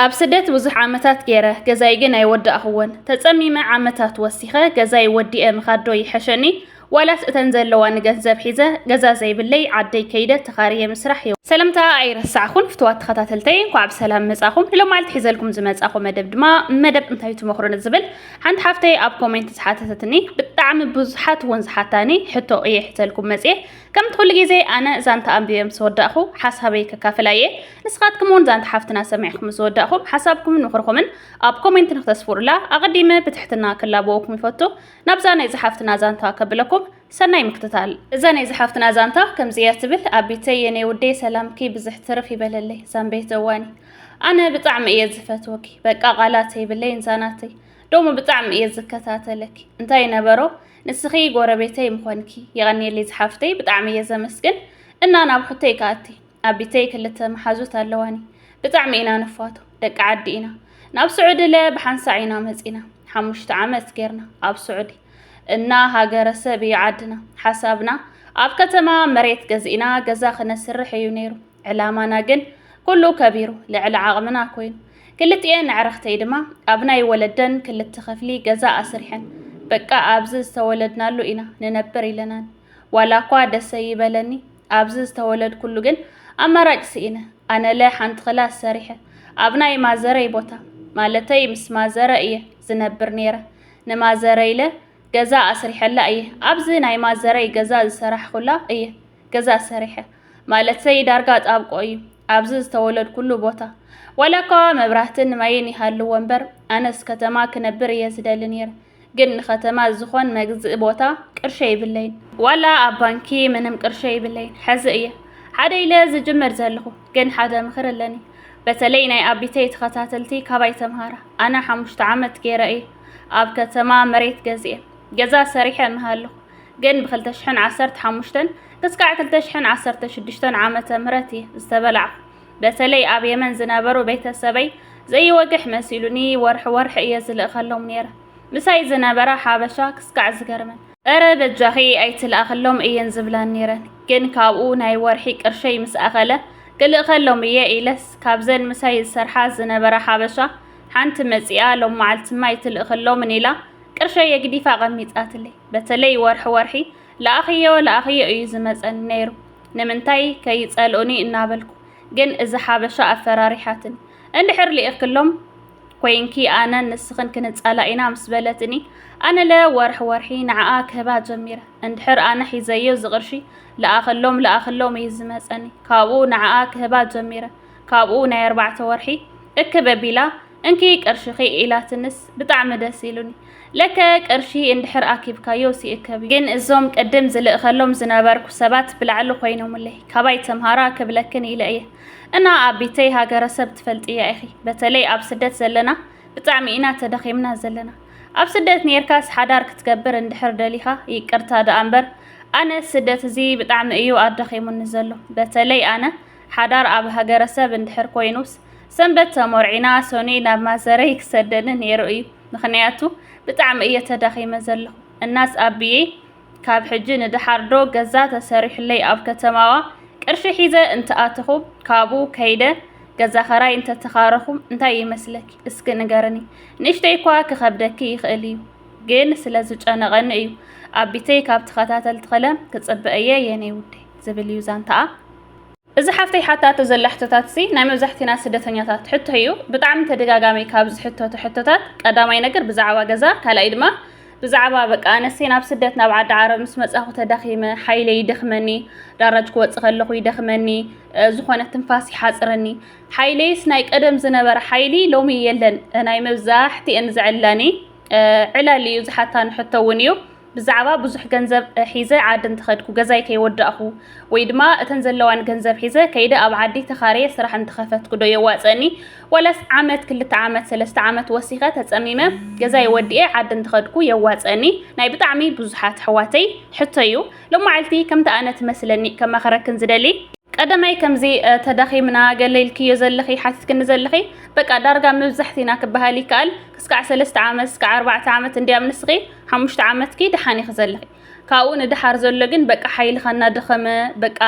ኣብ ስደት ብዙሕ ዓመታት ገይረ፣ ገዛይ ግን ኣይወዳእኹዎን። ተጸሚመ ዓመታት ወሲኸ፣ ገዛይ ወዲኤ ምኻድዶ ይሐሸኒ፣ ዋላስ እተን ዘለዋ ንገንዘብ ሒዘ፣ ገዛ ዘይብለይ ዓደይ ከይደ ተኻርየ ምስራሕ ይኸ። ሰለምታ ኣይረሳዕኹን ፍቱዋት ተኸታተልተይ እንኳዕ ብሰላም መጻኹም ንሎማዓልቲ ሒዘልኩም ዝመጻኹ መደብ ድማ መደብ እንታይ ትመኽሩ ንዝብል ሓንቲ ሓፍተይ ኣብ ኮሜንት ዝሓተተትኒ ብጣዕሚ ብዙሓት እውን ዝሓታኒ ሕቶ እየ ሒዘልኩም መጽየ ከምቲ ኩሉ ግዜ ኣነ ዛንታ ኣንቢበ ምስ ወዳእኹ ሓሳበይ ከካፍላ እየ ንስኻትኩም እውን ዛንታ ሓፍትና ሰሚዕኩም ምስ ወዳእኹም ሓሳብኩምን ምኽርኹምን ኣብ ኮሜንት ንክተስፍሩላ ኣቐዲመ ብትሕትና ክላበወኩም ይፈቱ። ናብዛ ናይ ዝሓፍትና ዛንታ ከብለኩም ሰናይ ምክትታል። እዛ ናይ ዝሓፍትና ዛንታ ከምዚ እያ ትብል፣ ኣቢተይ የኔ ውዴ ሰላምኪ ብዝሕ ትርፍ ይበለለይ ዛንቤት እዋኒ ኣነ ብጣዕሚ እየ ዝፈትወኪ በቃ ቃላት የብለይን ዛናተይ ዶሞ ብጣዕሚ እየ ዝከታተለኪ እንታይ ነበሮ ንስኺ ጎረቤተይ ምኾንኪ የቐኔለይ ዝሓፍተይ ብጣዕሚ እየ ዘመስግን እና ናብ ሕቶይ ከኣቲ ኣብ ቢተይ ክልተ መሓዙት ኣለዋኒ ብጣዕሚ ኢና ንፋቶ ደቂ ዓዲ ኢና ናብ ስዑዲ ለ ብሓንሳዕ ኢና መጺና ሓሙሽተ ዓመት ጌርና ኣብ ስዑዲ እና ሃገረ ሰብ እዩ ዓድና ሓሳብና ኣብ ከተማ መሬት ገዚእና ገዛ ክነስርሕ እዩ ነይሩ ዕላማና ግን ኩሉ ከቢሩ ልዕሊ ዓቕምና ኮይኑ ክልቲኤን ኣዕርኽተይ ድማ ኣብ ናይ ወለደን ክልተ ክፍሊ ገዛ ኣስሪሐን በቃ ኣብዚ ዝተወለድናሉ ኢና ንነብር ኢለናን ዋላ እኳ ደሰ ይበለኒ ኣብዚ ዝተወለድኩሉ ግን ኣማራጭ ስኢነ ኣነለ ሓንቲ ክላስ ሰሪሐ ኣብ ናይ ማዘረይ ቦታ ማለተይ ምስ ማዘረ እየ ዝነብር ነይረ ንማዘረይለ ገዛ ኣስሪሐላ እየ ኣብዚ ናይ ማዘረይ ገዛ ዝሰራሕኩላ እየ ገዛ ሰሪሐ ማለተይ ዳርጋ ጣብቆ እዩ ኣብዚ ዝተወለድኩሉ ቦታ ዋላኳ መብራህትን ማይን ይሃልዎ እምበር ኣነስ ከተማ ክነብር እየ ዝደሊ ነይረ ግን ንከተማ ዝኾን መግዝኢ ቦታ ቅርሺ የይብለይን። ዋላ ኣብ ባንኪ ምንም ቅርሺ የይብለይን ሐዚ እየ ሓደ ኢለ ዝጅምር ዘለኹ ግን ሓደ ምኽሪ ኣለኒ በተለይ ናይ ኣቢተይ ተኸታተልቲ ካባይ ተምሃራ ኣነ ሓሙሽተ ዓመት ገይረ እየ ኣብ ከተማ መሬት ገዚኤ ገዛ ሰሪሐ እምሃለኹ ግን ብክልተ ሽሕን ዓሰርተ ሓሙሽተን ክስካዕ ክልተ ሽሕን ዓሰርተ ሽዱሽተን ዓመተ ምህረት እየ ዝተበላዕኹ በተለይ ኣብ የመን ዝነበሩ ቤተሰበይ ዘይወግሕ መሲሉኒ ወርሒ ወርሒ እየ ዝልእኸሎም ነይረ ምሳይ ዝነበራ ሓበሻ ክስካዕ ዝገርመን እረ በጃኺ ኣይትልኣኽሎም እየን ዝብላን ነይረን ግን ካብኡ ናይ ወርሒ ቅርሸይ ምስ ኣኸለ ክልእኸሎም እየ ኢለስ ካብዘን ምሳይ ዝሰርሓ ዝነበራ ሓበሻ ሓንቲ መፂኣ ሎም መዓልትማ ኣይትልእኽሎምን ኢላ ቅርሸይ የግዲፋ ቐሚጣትለይ በተለይ ወርሒ ወርሒ ለኣኽዮ ለኣኽዮ እዩ ዝመፀኒ ነይሩ ንምንታይ ከይጸልኡኒ እናበልኩ ግን እዛ ሓበሻ ኣፈራሪሓትኒ እንድሕር ልኢኽሎም ኮይንኪ ኣነን ንስኽን ክንጻላ ኢና ምስ በለትኒ ኣነለ ወርሒ ወርሒ ንዓኣ ክህባ ጀሚረ እንድሕር ኣነ ሒዘዮ ዝቕርሺ ልኣኽሎም ልኣኽሎም እዩ ዝመጸኒ ካብኡ ንዓኣ ክህባ ጀሚረ ካብኡ ናይ ኣርባዕተ ወርሒ እክብ ኣቢላ እንኪ ቅርሽኺ ኢላትንስ ብጣዕሚ ደስ ኢሉኒ። ለከ ቅርሺ እንድሕር ኣኪብካዮስ ይእከብ'ዩ። ግን እዞም ቅድም ዝልእኸሎም ዝነበርኩ ሰባት ብላዕሊ ኮይኖምለይ ካባይ ተምሃራ ክብለክን ኢለ እየ። እና ኣቢተይ ሃገረሰብ ትፈልጥያ ኢኺ በተለይ ኣብ ስደት ዘለና ብጣዕሚ ኢና ተዳኺምና ዘለና። ኣብ ስደት ኔርካስ ሓዳር ክትገብር እንድሕር ደሊኻ ይቅርታ ደኣ እምበር ኣነስ ስደት እዚ ብጣዕሚ እዩ ኣዳኺሙኒ ዘሎ በተለይ ኣነ ሓዳር ኣብ ሃገረሰብ እንድሕር ኮይኑስ ሰንበት ተሞርዒና ሰኑይ ናብ ማዘረይ ክሰደኒ ነይሩ እዩ ምክንያቱ ብጣዕሚ እየ ተዳኺመ ዘለኹ እናስ ኣቢየይ ካብ ሕጂ ንደሓር ዶ ገዛ ተሰሪሑለይ ኣብ ከተማዋ ቅርሺ ሒዘ እንትኣተኹ ካብኡ ከይደ ገዛ ኸራይ እንተተኻረኹ እንታይ ይመስለኪ እስኪ ንገርኒ ንእሽተይ እኳ ክኸብደኪ ይኽእል እዩ ግን ስለ ዝጨነቐኒ እዩ ኣቢተይ ካብ ተኸታተልቲ ኸለ ክፅበ እየ የኔ ውዴ ዝብል እዩ ዛንታኣ እዚ ሓፍተይ ሓታቶ ዘላ ሕቶታት'ዚ ናይ መብዛሕቲና ስደተኛታት ሕቶ እዩ። ብጣዕሚ ተደጋጋሚ ካብ ዝሕተቱ ሕቶታት ቀዳማይ ነገር ብዛዕባ ገዛ ካልኣይ ድማ ብዛዕባ በቃ ኣነሲ ናብ ስደት ናብ ዓዲ ዓረብ ምስ መጻኹ ተዳኺመ ሓይለይ ይደኽመኒ ዳራጅ ክወጽእ ከለኹ ይደኽመኒ ዝኾነ ትንፋስ ይሓጽረኒ ሓይለይስ ናይ ቀደም ዝነበረ ሓይሊ ሎሚ የለን ናይ መብዛሕቲኤን ዝዕላኒ ዕላል እዩ ዝሓታኒ ሕቶ እውን እዩ። ብዛዕባ ብዙሕ ገንዘብ ሒዘ ዓዲ እንተኸድኩ ገዛይ ከይወዳእኹ ወይ ድማ እተን ዘለዋን ገንዘብ ሒዘ ከይደ ኣብ ዓዲ ተኻርየ ስራሕ እንተኸፈትኩ ዶ የዋፀኒ ዋላስ ዓመት ክልተ ዓመት ሰለስተ ዓመት ወሲኸ ተፀሚመ ገዛይ ወዲኤ ዓዲ እንተኸድኩ የዋፀኒ ናይ ብጣዕሚ ብዙሓት ኣሕዋተይ ሕቶ እዩ ሎማዓልቲ ከምቲ ኣነ ትመስለኒ ከማኸረክን ዝደሊ ቀደመይ ከምዚ ተዳኺምና ገለ ኢልክዮ ዘለኺ ሓቲትክኒ ዘለኺ በቃ ዳርጋ መብዛሕቲና ክበሃል ይከኣል ክስካዕ ሰለስተ ዓመት ስካዕ ኣርባዕተ ዓመት እንዲያም ንስኺ ሓሙሽተ ዓመትኪ ደሓን ኢኺ ዘለኺ ካብኡ ንደሓር ዘሎ ግን በቃ ሓይልኻ እናደኸመ በቃ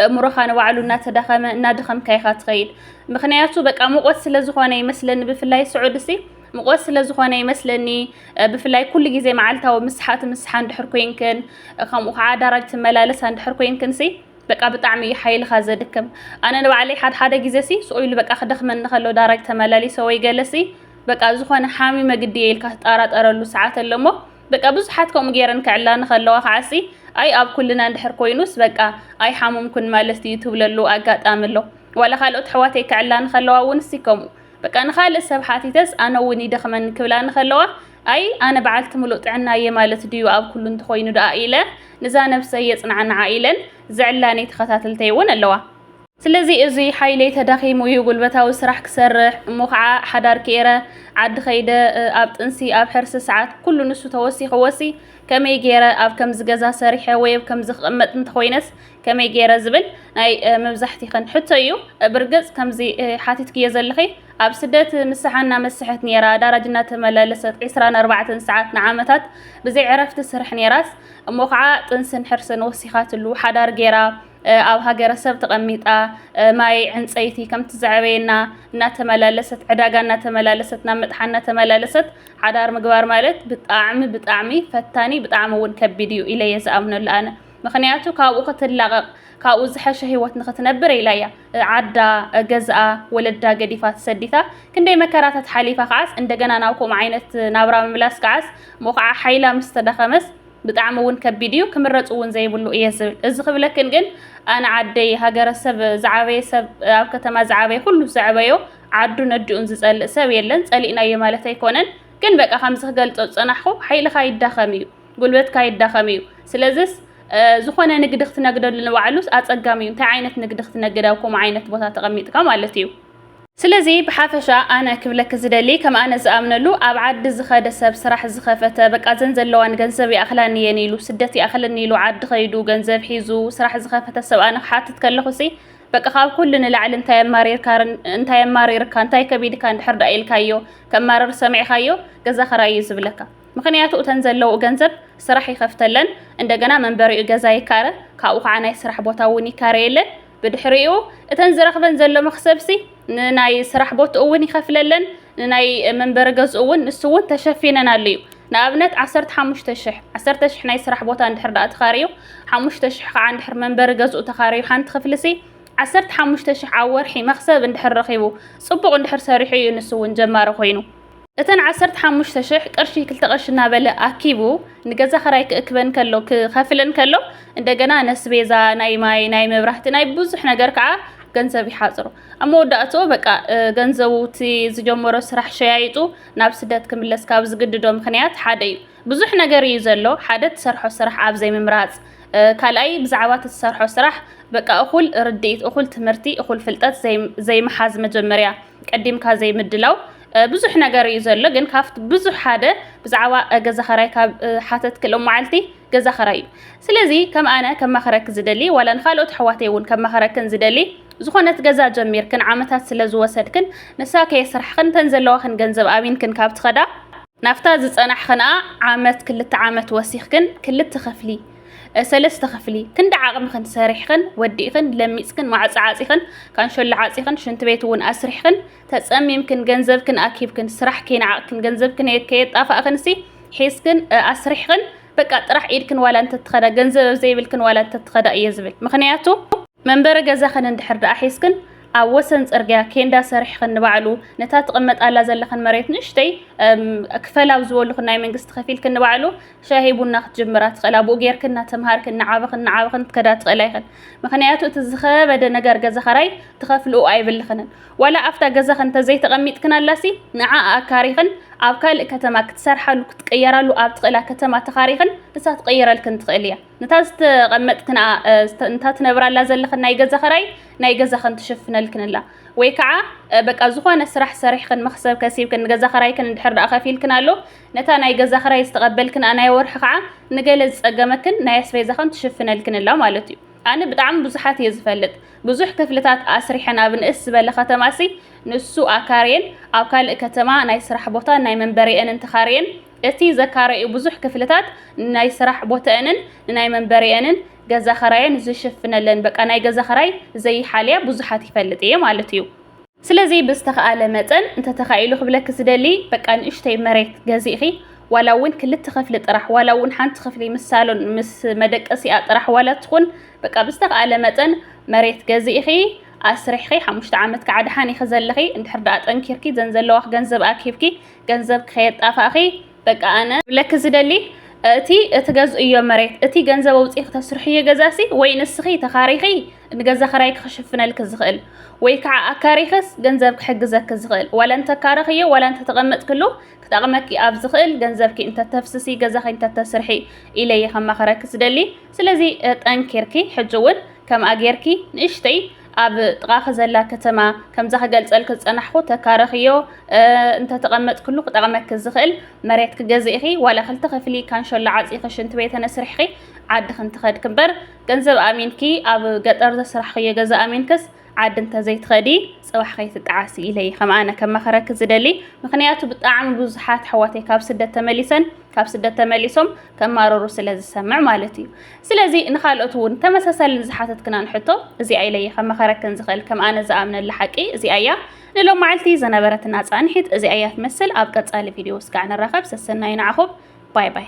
እእምሮኻ ንባዕሉ እናተዳኸመ እናደኸምካ ኢኻ ትኸይድ ምክንያቱ በቃ ሙቆት ስለ ዝኾነ ይመስለኒ ብፍላይ ስዑድ ሲ ሙቆት ስለ ዝኾነ ይመስለኒ ብፍላይ ኩሉ ግዜ መዓልታዊ ምስሓ ትምስሓ እንድሕር ኮይንክን ከምኡ ከዓ ኣዳራጅ ትመላለሳ እንድሕር ኮይንክን ሲ በቃ ብጣዕሚ እዩ ሓይልካ ዘድክም ኣነ ንባዕለይ ሓድሓደ ግዜ ሲ ስኡኢሉ በቃ ክደክመኒ ከሎ ዳራጅ ተመላሊሰ ወይ ገለሲ በቃ ዝኾነ ሓሚመ ግዲ እየ ኢልካ ትጣራጠረሉ ሰዓት ኣሎ እሞ በቃ ብዙሓት ከምኡ ገይረን ክዕላ ንኸለዋ ከዓሲ ኣይ ኣብ ኩልና እንድሕር ኮይኑስ በቃ ኣይ ሓሙምኩን ማለት እዩ ትብለሉ ኣጋጣሚ ኣሎ ዋላ ካልኦት ኣሕዋተይ ክዕላ ንኸለዋ እውን እሲ ከምኡ በቃ ንኻልእ ሰብ ሓቲተስ ኣነ እውን ይደኽመን ክብላ ንኸለዋ ኣይ ኣነ በዓልቲ ምሉእ ጥዕና እየ ማለት ድዩ ኣብ ኩሉ እንተኾይኑ ደኣ ኢለ ንዛ ነብሰይ የጽናዕንዓ ኢለን ዝዕላኒ ተኸታተልተይ እውን ኣለዋ ስለዚ እዙይ ሓይለይ ተዳኺሙ እዩ ጉልበታዊ ስራሕ ክሰርሕ እሞ ከዓ ሓዳር ክኤረ ዓዲ ከይደ ኣብ ጥንሲ ኣብ ሕርሲ ሰዓት ኩሉ ንሱ ተወሲኽዎሲ ከመይ ገይረ ኣብ ከምዚ ገዛ ሰሪሐ ወይ ኣብ ከምዚ ክቕመጥ እንተኾይነስ ከመይ ገይረ ዝብል ናይ መብዛሕቲኽን ሕቶ እዩ። ብርግፅ ከምዚ ሓቲትክዮ ዘለኺ ኣብ ስደት ንስሓ እናመሰሐት ነይራ ዳራጅ እናተመላለሰት ዕስራን ኣርባዕተን ሰዓት ንዓመታት ብዘይ ዕረፍቲ ስርሕ ነይራስ እሞ ከዓ ጥንስን ሕርስን ወሲኻትሉ ሓዳር ገይራ ኣብ ሃገረሰብ ተቐሚጣ ማይ ዕንፀይቲ ከምቲ ዘዕበየና እናተመላለሰት ዕዳጋ እናተመላለሰት ናብ መጥሓን እናተመላለሰት ሓዳር ምግባር ማለት ብጣዕሚ ብጣዕሚ ፈታኒ ብጣዕሚ እውን ከቢድ እዩ ኢለ እየ ዝኣምነሉ ኣነ ምክንያቱ ካብኡ ክትላቐቕ ካብኡ ዝሐሸ ህይወት ንክትነብር ኢላ እያ ዓዳ ገዝኣ ወለዳ ገዲፋ ተሰዲታ ክንደይ መከራታት ሓሊፋ ከዓስ እንደገና ናብ ከምኡ ዓይነት ናብራ ምምላስ ከዓስ እሞ ከዓ ሓይላ ምስ ተዳኸመስ ብጣዕሚ እውን ከቢድ እዩ ክምረፅ እውን ዘይብሉ እየ ዝብል እዚ ክብለክን ግን ኣነ ዓደይ ሃገረ ሰብ ዝዓበየ ሰብ ኣብ ከተማ ዝዓበየ ኩሉ ዘዕበዮ ዓዱን ነዲኡን ዝፀልእ ሰብ የለን ፀሊእናዮ ማለት ኣይኮነን ግን በቃ ከምዚ ክገልፆ ዝፀናሕኹ ሓይልኻ ይዳኸም እዩ ጉልበትካ ይዳኸም እዩ ስለዚስ ዝኾነ ንግዲ ክትነግደሉ ንባዕሉስ ኣፀጋሚ እዩ እንታይ ዓይነት ንግዲ ክትነግድ ኣብ ከምኡ ዓይነት ቦታ ተቐሚጥካ ማለት እዩ ስለዚ ብሓፈሻ ኣነ ክብለኪ ዝደሊ ከም ኣነ ዝኣምነሉ ኣብ ዓዲ ዝኸደ ሰብ ስራሕ ዝኸፈተ በቃ እዘን ዘለዋ ንገንዘብ ይኣኽላኒ እየን ኢሉ ስደት ይኣኽለኒ ኢሉ ዓዲ ከይዱ ገንዘብ ሒዙ ስራሕ ዝኸፈተ ሰብ ኣነ ክሓትት ከለኹሲ በቃ ካብ ኩሉ ንላዕሊ እንታይ ኣማሪርካ እንታይ ኣማሪርካ እንታይ ከቢድካ እንድሕር ደኣ ኢልካዮ ከማርር ሰሚዕካዮ ገዛ ክራይ እዩ ዝብለካ ምክንያቱ እተን ዘለዉ ገንዘብ ስራሕ ይኸፍተለን እንደገና መንበሪኡ ገዛ ይካረ ካብኡ ከዓ ናይ ስራሕ ቦታ እውን ይካረየለን ብድሕሪኡ እተን ዝረኽበን ዘሎ መኽሰብሲ ንናይ ስራሕ ቦትኡ እውን ይኸፍለለን ንናይ መንበሪ ገዝኡ እውን ንሱ እውን ተሸፊነናሉ እዩ ንኣብነት ዓሰርተ ሓሙሽተ ሽሕ ዓሰርተ ሽሕ ናይ ስራሕ ቦታ እንድሕር ደኣ ተኻርዩ ሓሙሽተ ሽሕ ከዓ እንድሕር መንበሪ ገዝኡ ተኻርዩ ሓንቲ ክፍልሲ ዓሰርተ ሓሙሽተ ሽሕ ኣብ ወርሒ መኽሰብ እንድሕር ረኺቡ ፅቡቕ እንድሕር ሰሪሑ እዩ ንሱ እውን ጀማሪ ኮይኑ እተን ዓሰርተ ሓሙሽተ ሽሕ ቅርሺ ክልተ ቅርሺ እናበለ ኣኪቡ ንገዛ ኸራይ ክእክበን ከሎ ክኸፍለን ከሎ እንደገና ነስቤዛ ናይ ማይ ናይ መብራህቲ ናይ ብዙሕ ነገር ከዓ ገንዘብ ይሓፅሮ ኣብ መወዳእትኡ በቃ ገንዘቡ እቲ ዝጀመሮ ስራሕ ሸያይጡ ናብ ስደት ክምለስ ካብ ዝግድዶ ምክንያት ሓደ እዩ ብዙሕ ነገር እዩ ዘሎ ሓደ ትሰርሖ ስራሕ ኣብ ዘይምምራፅ ካልኣይ ብዛዕባ ትሰርሖ ስራሕ በቃ እኹል ርድኢት እኹል ትምህርቲ እኹል ፍልጠት ዘይምሓዝ መጀመርያ ቀዲምካ ዘይምድላው ብዙሕ ነገር እዩ ዘሎ ግን ካብቲ ብዙሕ ሓደ ብዛዕባ ገዛ ኸራይ ካብ ሓተትክ ሎማዓልቲ ገዛ ኸራይ እዩ ስለዚ ከም ኣነ ከማኸረክ ዝደሊ ዋላ ንካልኦት ኣሕዋተይ እውን ከማኸረክን ዝደሊ ዝኾነት ገዛ ጀሚርክን ዓመታት ስለ ዝወሰድክን ንሳ ከየስራሕኽን ተን ዘለዋኽን ገንዘብ ኣሚንክን ካብ ትኸዳ ናብታ ዝጸናሕኽንኣ ዓመት ክልተ ዓመት ወሲኽክን ክልተ ኸፍሊ ሰለስተ ክፍሊ ክንዲ ዓቕምኽን ሰሪሕኽን ወዲእኽን ለሚጽክን ማዕጾ ዓጺኽን ካንሸሎ ዓጺኽን ሽንቲ ቤት እውን ኣስሪሕኽን ተጸሚምክን ገንዘብክን ኣኪብክን ስራሕ ከይነዓቕክን ገንዘብክን ከየጣፋእክንሲ ሒዝክን ኣስሪሕኽን በቃ ጥራሕ ኢድክን ዋላ እንተትኸዳ ገንዘብ ኣብ ዘይብልክን ዋላ እንተትኸዳ እየ ዝብል ምክንያቱ መንበሪ ገዛኽን እንድሕር ደኣ ሒዝክን ኣብ ወሰን ጽርግያ ኬንዳ ሰሪሕኽን ንባዕሉ ነታ ትቕመጣላ ዘለኽን መሬት ንእሽተይ ክፈል ኣብ ዝበሉኽን ናይ መንግስቲ ከፊልክን ንባዕሉ ሻሂ ቡና ክትጅምራ ትኽእል ኣብኡ ጌርክን እናተምሃርክን ንዓበኽን ንዓበኽን ትከዳ ትኽእላ ይኽን ምክንያቱ እቲ ዝኸበደ ነገር ገዛ ኸራይ ትኸፍልኡ ኣይብልኽንን ዋላ ኣብታ ገዛኺ እንተዘይተቐሚጥክናላሲ ንዓኣ ኣካሪኽን ኣብ ካልእ ከተማ ክትሰርሓሉ ክትቅየራሉ ኣብ ትኽእላ ከተማ ተኻሪኽን ንሳ ትቕይረልክን ትኽእል እያ። ነታ ዝተቐመጥክንኣ ንታ ትነብራላ ዘለኽን ናይ ገዛ ክራይ ናይ ገዛኽን ትሽፍነልክን ኣላ። ወይ ከዓ በቃ ዝኾነ ስራሕ ሰሪሕኽን መኽሰብ ከሲብክን ንገዛ ክራይክን እንድሕር ደኣ ከፊልክን ኣሎ ነታ ናይ ገዛ ክራይ ዝተቐበልክንኣ ናይ ወርሒ ከዓ ንገለ ዝፀገመክን ናይ ኣስቤዛኽን ትሽፍነልክን ኣላ ማለት እዩ። ኣነ ብጣዕሚ ብዙሓት እየ ዝፈልጥ። ብዙሕ ክፍልታት ኣስሪሐን ኣብ ንእስ ዝበለ ከተማሲ ንሱ ኣካርየን ኣብ ካልእ ከተማ ናይ ስራሕ ቦታን ናይ መንበሪኤንን ተኻርየን እቲ ዘካረዩ ብዙሕ ክፍልታት ንናይ ስራሕ ቦተእንን ንናይ መንበሪኤንን ገዛ ኸራየን ዝሽፍነለን በቃ ናይ ገዛ ኸራይ ዘይሓልያ ብዙሓት ይፈልጥ እየ ማለት እዩ። ስለዚ ብዝተኻኣለ መጠን እንተተኻኢሉ ክብለኪ ዝደሊ በቃ ንእሽተይ መሬት ገዚእኺ ዋላ እውን ክልተ ክፍሊ ጥራሕ ዋላ እውን ሓንቲ ክፍሊ ምስ ሳሎን ምስ መደቀሲኣ ጥራሕ ዋላ ትኹን በቃ ብዝተኻኣለ መጠን መሬት ገዚእኺ ኣስሪሕኺ ሓሙሽተ ዓመት ከዓ ደሓን ኢኺ ዘለኺ እንድሕር ደኣ ጠንኪርኪ ዘን ዘለዋኺ ገንዘብ ኣኪብኪ ገንዘብ ከየጣፋእኺ በቃ ኣነ ክብለኪ ዝደሊ እቲ እትገዝእዮ መሬት እቲ ገንዘብ ኣውፂእኺ ተስርሕዮ ገዛሲ ወይ ንስኺ ተኻሪኺ ንገዛ ክራይኪ ክሽፍነልኪ ዝኽእል ወይ ከዓ ኣካሪኽስ ገንዘብ ክሕግዘኪ ዝኽእል ዋላ እንተካረኽዮ ዋላ እንተተቐመጥክሉ ክጠቕመኪ ኣብ ዝኽእል ገንዘብኪ እንተተፍስሲ ገዛኺ እንተተስርሒ ኢለየ ከማኸረኪ ዝደሊ ስለዚ ጠንኪርኪ ሕጂ እውን ከምኣ ጌርኪ ንእሽተይ ኣብ ጥቓኺ ዘላ ከተማ ከምዛ ክገልፀልኪ ዝፀናሕኹ ተካረኽዮ እንተተቐመጥክሉ ክጠቕመኪ ዝኽእል መሬት ክገዝእኺ ዋላ ክልተ ክፍሊ ካንሸሎ ዓፂኺ ሽንቲ ቤተ ነስርሕኺ ዓድኺ እንትኸድኪ እምበር ገንዘብ ኣሚንኪ ኣብ ገጠር ዘስራሕኽዮ ገዛ ኣሚንክስ ዓዲ እንተዘይትኸዲ ፅባሕ ከይትጠዓሲ ኢለ እየ ከም ኣነ ከማኸረኪ ዝደሊ ምክንያቱ ብጣዕሚ ብዙሓት ኣሕዋተይ ካብ ስደት ተመሊሰን ካብ ስደት ተመሊሶም ከማረሩ ስለ ዝሰምዕ ማለት እዩ ስለዚ ንካልኦት እውን ተመሳሳሊ ንዝሓተትክናን ሕቶ እዚኣ ኢለ እየ ከማኸረክን ዝኽእል ከም ኣነ ዝኣምነላ ሓቂ እዚኣ እያ ንሎም መዓልቲ ዝነበረትና ፃንሒት እዚኣ እያ ትመስል ኣብ ቀፃሊ ቪድዮ እስካዕ ንራኸብ ሰሰናዩ ንዓኹም ባይ ባይ